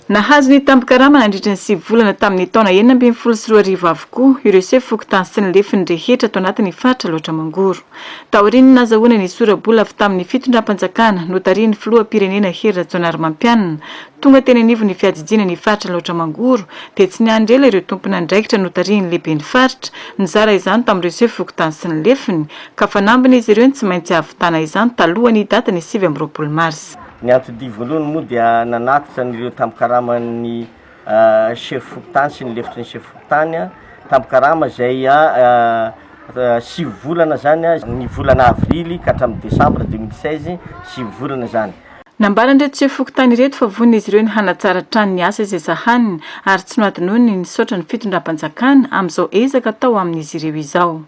Nahazo ny tambin-karama nandritra ny sivy volana tamin'ny taona enina ambin'ny folo sy roa arivo avokoa ireo sefo fokontany sy ny lefiny rehetra ato anatin'ny faritra Alaotra Mangoro. Taorian'ny nazahoana ny sora-bola avy tamin'ny fitondram-panjakana notarihin'ny filoham-pirenena Hery Rajaonarimampianina tonga teny anivon'ny fiadidiana ny faritra Alaotra Mangoro dia tsy niandry ela ireo tompon'andraikitra notarihin'ny lehiben'ny faritra nizara izany tamin'ireo sefo fokontany sy ny lefiny ka fanambin'izy ireo ny tsy maintsy hahavitana izany talohan'ny datin'ny sivy amby roapolo marsa. Ny anti-dia voalohany moa dia nanatitra an'ireo tambin-karaman'ny sefo fokontany sy ny lefitry ny sefo fokontany, tambin-karama izay sivy volana izany, ny volana avrily ka hatramin'ny desambra deux mille seize, sivy volana izany. Nambaran'ireto sefo fokontany ireto fa vonin'izy ireo ny hanatsara hatrany ny asa izay sahaniny ary tsy nohadinoiny ny nisaotra ny fitondram-panjakana amin'izao ezaka atao amin'izy ireo izao.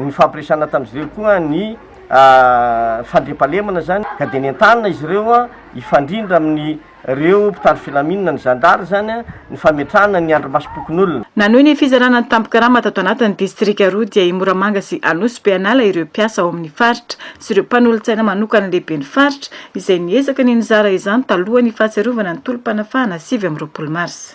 Nifampiresahana tamin'izy ireo koa ny fandriampahalemana izany ka dia nentanina izy ireo hifandrindra amin'ireo mpitandro filaminana, ny zandary izany, ny fametrahana ny andrimasom-pokonolona. Nanohy ny fizarana ny tambin-karama tato anatin'ny distrika roa dia i Moramanga sy Anosy be hanala ireo mpiasa ao amin'ny faritra sy ireo mpanolotsaina manokan'ny lehiben'ny faritra izay niezaka ny nizara izany talohan'ny fahatsiarovana ny tolom-panafahana sivy amby roapolo marsa